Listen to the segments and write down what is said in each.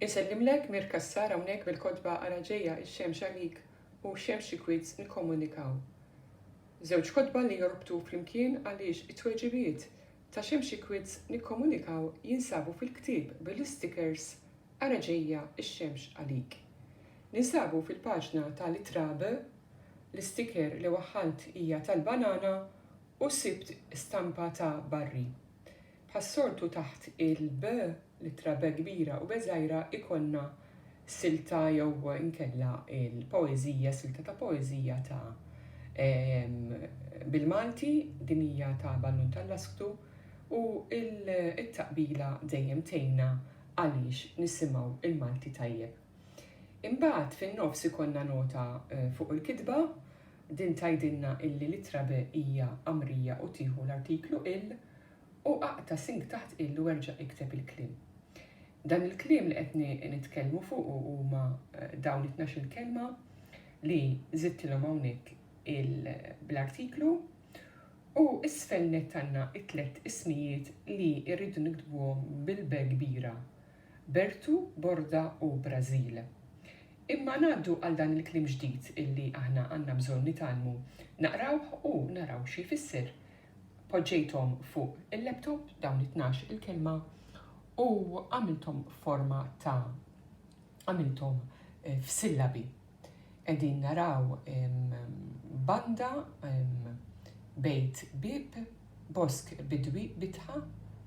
Insellimlek Mir Cassar hawnhekk bil-kotba Ara ġejja x-xemx għalik u Xemx xi kwiz nikkommunikaw. Żewġ kotba li jorbtu flimkien għaliex it-tweġibiet ta' Xemx xi kwiz nikkommunikaw jinsabu fil-ktieb bil-istikers Ara ġejja x-xemx għalik. Ninsabu fil-paġna tal-ittra B, l-istiker li waħħalt hija tal-banana U sibt stampa ta' Barry. Bħas-soltu taħt il-B, l-ittra B kbira u B żgħira ikollna silta jew inkella l-poeżija, silta ta' poeżija ta' bil-Malti, din hija ta' Ballun tal-Lasktu u t-taqbila dejjem tgħinna għaliex nisimgħu l-Malti tajjeb. Imbagħad fin-nofs ikollna nota fuq il-kitba, din tgħidilna illi l-ittra be hija qamrija u tieħu l-artiklu il u aqta' sing taħt il u erġa' ikteb il-kliem. Dan il-kliem li qed nitkellmu fuqu huma dawn it-tnax-il kelma li żidtilhom hawnhekk il bl-artiklu u isfel nett għandna t-tlett ismijiet li rridu niktbuhom bil-be kbira Bertu, Borda u Brażil. Imma ngħaddu għal dan il-kliem ġdid illi aħna għandna bżonn nitgħallmu naqrawh u naraw xi jfisser. Poġġejthom fuq il-laptop dawn it-tnax il-kelma u għamilthom f'forma ta' għamilthom f'sillabi. Qegħdin naraw banda, bejt bieb, bosk bidwi bitħa,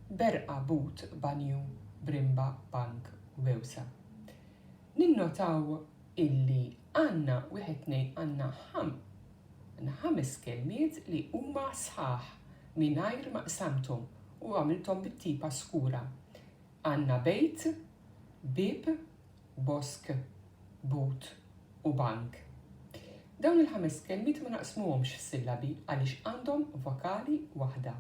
berqa but banju b'rimba bank wewsa. Ninnotaw illi għandna wieħed tnejn għandna għandna ħames kelmiet li huma sħaħ mingħajr ma qsamthom u għamilthom bit-tipa skura. Għandna bejt, bieb, bosk, but u bank. Dawn il-ħames kelmiet ma naqsmuhomx f'sillabi għaliex għandhom vokali waħda.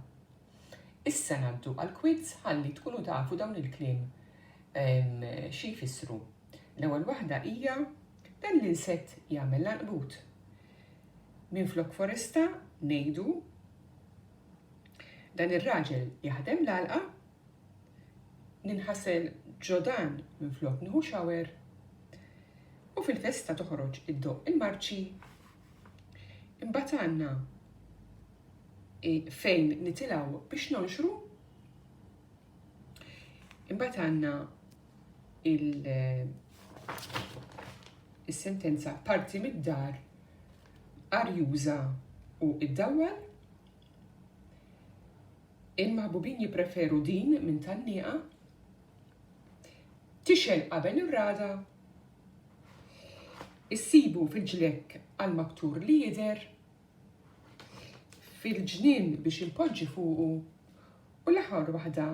Issa ngħaddu għall-kwiz ħalli tkunu tafu dawn il-kliem xi jfissru. L-ewwel waħda hija Dan l-insett jagħmel l-għanqbut. Minflok foresta ngħidu Dan ir-raġel jaħdem l-għalqa Ninħasel ġo dan minflok nieħu shower U fil-festa toħroġ iddoqq il-marċi Imbagħad għandna fejn nitilgħu biex nonxru Imbagħad għandna il-sentenza parti mid-dar arjuża u id-dawwal Il-maħbubin jippreferu din minn tgħanniqa tixgħel qabel ir-ragħda. Issibu fil-ġlekk għal maktur li jidher, fil-ġnien biex inpoġġi fuqu u l-aħħar waħda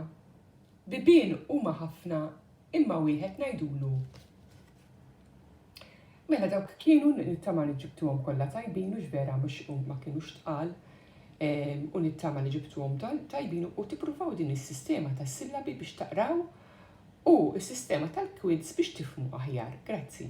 Bibien huma ħafna imma wieħed ngħidulu Mela dawk kienu nittama li ġibtuhom kollha tajbin u x'vera mhux ma kienux tqal ehm, u nittama li ġibtuhom tajbin u tippruvaw din is-sistema tas-sillabi biex taqraw u s-sistema tal-quids biex tifmu aħjar. Grazzi.